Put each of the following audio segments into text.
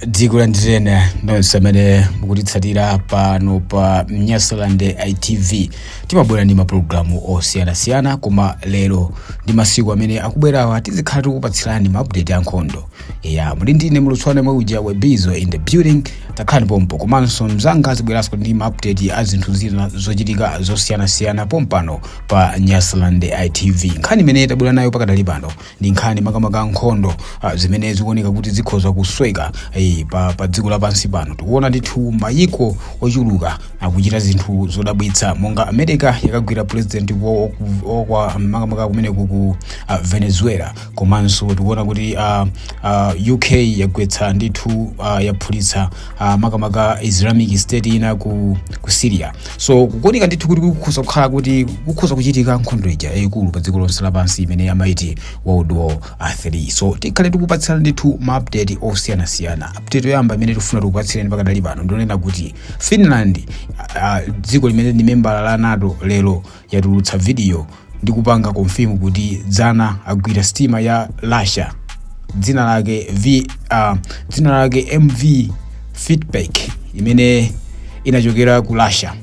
dziko la nditene nonse amene mukutitsatira pano pa nyasaland itv timabwera ndi mapulogalamu osiyanasiyana koma lero ndi masiku amene akubwerawa tizikhala tikupatsirani maupdate a nkhondo ya muli ndine mulutswana mwe uja webizo in the building takhalani pompo komanso anzanga azibweranso ndi maupdate a zinthu zina zochitika zosiyanasiyana pompano pa nyasaland itv nkhani imene tabwera nayo pakadali pano ndi nkhani makamaka ya nkhondo ah, zimene zikuoneka kuti zikhoza kusweka eh, pa, pa dziko lapansi pano tikuona ndithu mayiko ochuluka akuchita zinthu zodabwitsa monga america yakagwira president wa- wa- wa- wa makamaka kumeneku ku ah, venezuela komanso tikuona kuti ah, ah, uk yagwetsa ndithu ah, yaphulitsa ah, makamaka islamic state ina ku, ku syria so kukuoneka ndithu kuti kukhoza kukhala kuti kukhoza kuchitika nkhondo ija yayikulu pa dziko lonse lapansi imene amati world war 3 so tikhale tikupatsirani ndithu ma update osiyanasiyana update yoyamba imene tikufuna tikupatsireni pakadali pano ndi yonena kuti finland ah, ah, dziko limene ndi membala la nato lero yatulutsa vidiyo ndi kupanga konfimu kuti dzana agwira sitima ya Russia dzina lake V, uh, dzina lake MV Fitburg imene inachokera ku Russia.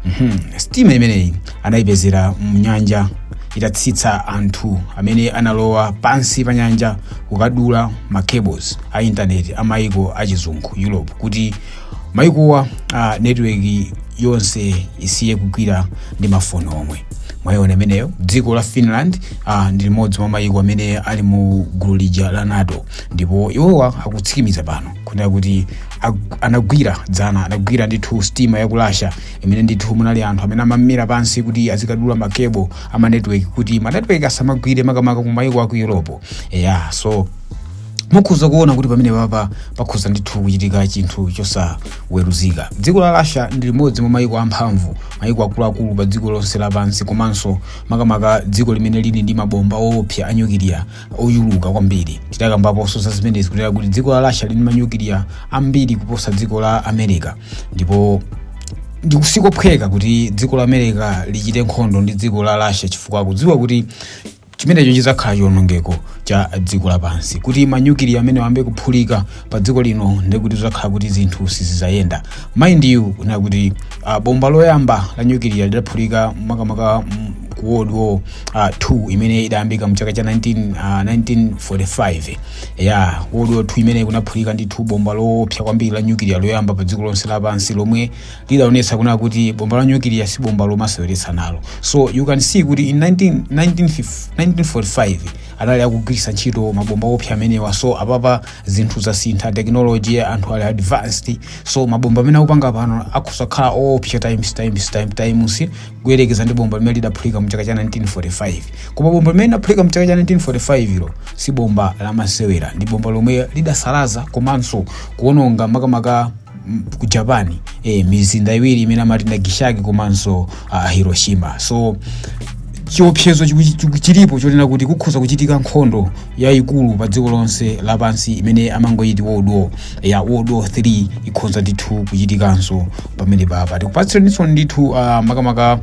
Mhm. Sitima imeneyi anayipezera mnyanja itatsitsa anthu amene analowa pansi pa nyanja kukadula ma cables a intaneti a maiko achizungu Europe kuti maikowa uh, netiweki yonse isiye kugwira ndi mafoni omwe mwayiona imeneyo dziko la finland uh, ndi limodzi mwa mayiko amene ali mu gulu lija la nato ndipo iwowa akutsimikiza pano kunena kuti ag- anagwira dzana anagwira ndithu sitima ya ku russia imene ndithu munali anthu amene amamira pansi kuti azikadula makebo a manetiweki kuti manetiweki asamagwire makamaka ku mayiko aku europe eya so mukhoza kuona kuti pamene papa pakhoza ndithu kuchitika chinthu chosaweruzika dziko la russia ndi limodzi mwa mayiko amphamvu mayiko akuluakulu pa dziko lonse lapansi komanso makamaka dziko limene lili ndi mabomba oopsa a nyukiliya ochuluka kwambiri tidakambaponso za zimenezi kunena kuti dziko la russia lili ndi manyukiliya ambiri kuposa dziko la america ndipo ndi kosaphweka kuti dziko la america lichite nkhondo ndi dziko la russia chifukwa akudziwa kuti chimenecho chizakhala chionongeko cha dziko lapansi kuti manyukiliya amenewa ayambe kuphulika pa dziko lino ndekuti zizakhala kuti zinthu sizizayenda mind you kunena kuti uh, bomba loyamba la nyukiliya lidaphulika makamaka mm, ku world war uh, 2 imene idayambika mchaka cha 19, uh, 1945 ya world war 2 imene kunaphulika ndithu bomba loopsa kwambiri la nyukiliya loyamba pa dziko lonse lapansi lomwe lidaonetsa kunena kuti bomba la nyukiliya si bomba lomasewera nalo so you can see kuti in 19, 1945 anali akugwiritsa ntchito mabomba oopsa amenewa so apapa zinthu zasintha technology anthu ali advanced so mabomba amene akupanga pano akhoza kukhala oopsa times times times times kuyerekeza ndi bomba limene lidaphulika mu chaka cha 1945 koma bomba limene lidaphulika mu chaka cha 1945 lo si bomba lamasewera ndi bomba lomwe lidasalaza komanso kuononga makamaka mm, ku japan eh, mizinda iwiri imene amati nagasaki komanso uh, hiroshima so chiopsezo chiku- chiku- chilipo chonena kuti kukhoza kuchitika nkhondo yayikulu pa dziko lonse lapansi imene amangoyiti world war ya world war 3 ikhoza ndithu kuchitikanso pamenepapa tikupatseninso ndithu uh, makamaka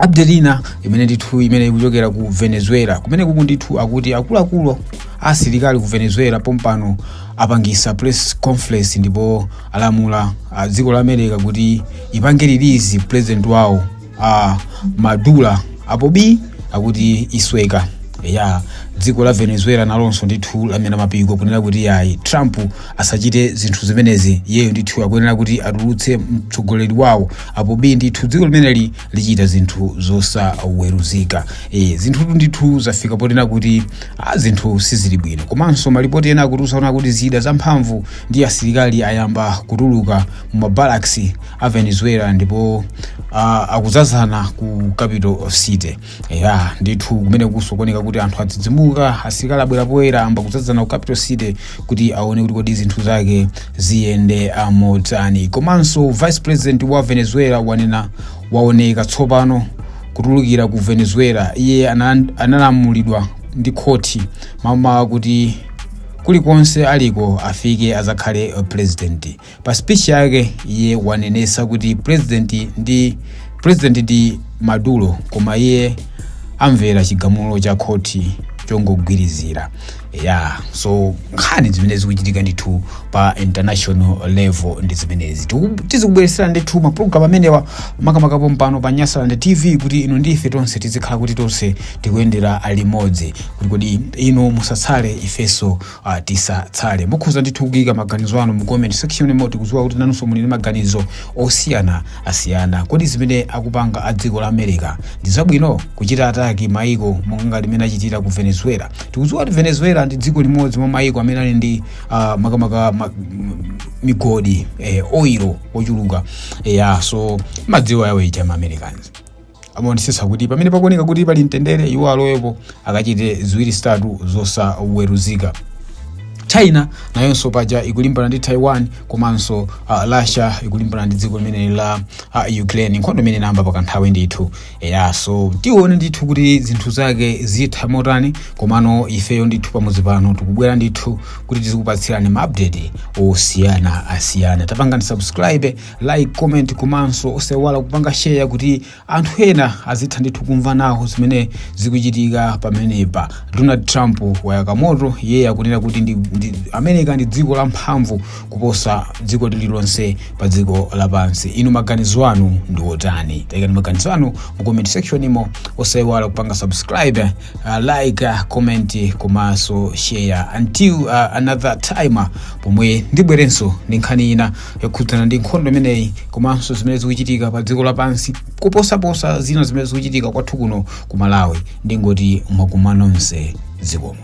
update ina imene ndithu imene ikuchokera ku venezuela kumenekuku ndithu akuti akuluakulu asilikali ku venezuela pompano apangisa press conference ndipo alamula uh, dziko la america kuti ipange release president wawo uh, maduro apo bi akuti isweka ya dziko la venezuela nalonso ndithu lamenya mapiko kunena kuti yayi trump asachite zinthu zimenezi iyeyo ndithu akuyenera kuti atulutse mtsogoleri wawo apo bi ndithu dziko limeneli lichita zinthu zosaweruzika e, zinthutu ndithu zafika potena kuti a, zinthu sizili bwino komanso malipoti ena akutitu zaona kuti zida zamphamvu ndi asilikali ayamba kutuluka mu mabarracks a venezuela ndipo a, akuzazana ku capital city ya ndithu kumene kunso kuoneka kuti anthu adzidzimuka asilikali abwera poyera ayamba kuzazana ku capital city kuti aone kuti kodi zinthu zake ziyenda motani komanso vice president wa venezuela wanena waoneka tsopano kutulukira ku venezuela iye ana- analamulidwa ndi khoti mmawa kuti kulikonse aliko afike azakhale uh, president Pa speech yake iye wanenesa kuti president ndi president ndi Maduro koma iye amvera chigamulo cha khoti chongogwirizira ya so nkhani zimene zikuchitika ndithu pa international level ndi zimenezi Tiku- tizikubweresera ndithu mapulogalamu amenewa makamaka pompano pa nyasaland tv kuti inu ndi ife tonse tizikhala kuti tonse tikuyendera limodzi kuti kodi inu musatsale ifenso uh, tisatsale mukhoza ndithu kuyika maganizo anu mu comment section imo tikudziwa kuti nanunso muli ndi maganizo osiyanasiyana kodi zimene akupanga a dziko la america ndi zabwino kuchita ataki maiko monga limene achitira ku venezuela tikudziwa kuti venezuela ndi dziko limodzi mwa maiko amene ali ndi uh, makamaka ma, m- migodi eh, oil ochuluka yeah, so mmadziwa awo aja ma americans amaonetsetsa kuti pamene pakuoneka kuti pali mtendere iwo alowepo akachite ziwiri zitatu zosaweruzika china nayonso paja ikulimbana ndi taiwan komanso uh, russia ikulimbana ndi dziko limene la uh, ukraine nkhondo imene inayamba pakanthawi ndithu eya so tione ndithu kuti zinthu zake zitha motani komano ifeyo ndithu pamudzi pano tikubwera ndithu kuti tizikupatsirani maupdate osiyanasiyana pangani subscribe like comment komanso osaiwala kupanga share kuti anthu ena azitha ndithu kumva nawo zimene zikuchitika pamenepa donald trump wayaka moto iye akunena kuti ndi, ndi, america ndi dziko la mphamvu kuposa dziko lililonse pa dziko lapansi inu maganizo anu ndi otani taikani maganizo anu mu comment section imo osaiwala kupanga subscribe uh, like uh, comment komanso share until uh, another time pomwe ndibwerenso ndi nkhani ina yokhudzana ndi nkhondo imeneyi komanso zimene zikuchitika pa dziko lapansi kuposaposa zina zimene zikuchitika kwathu kuno ku malawi ndingoti ndimakunyadirani nonse zikomo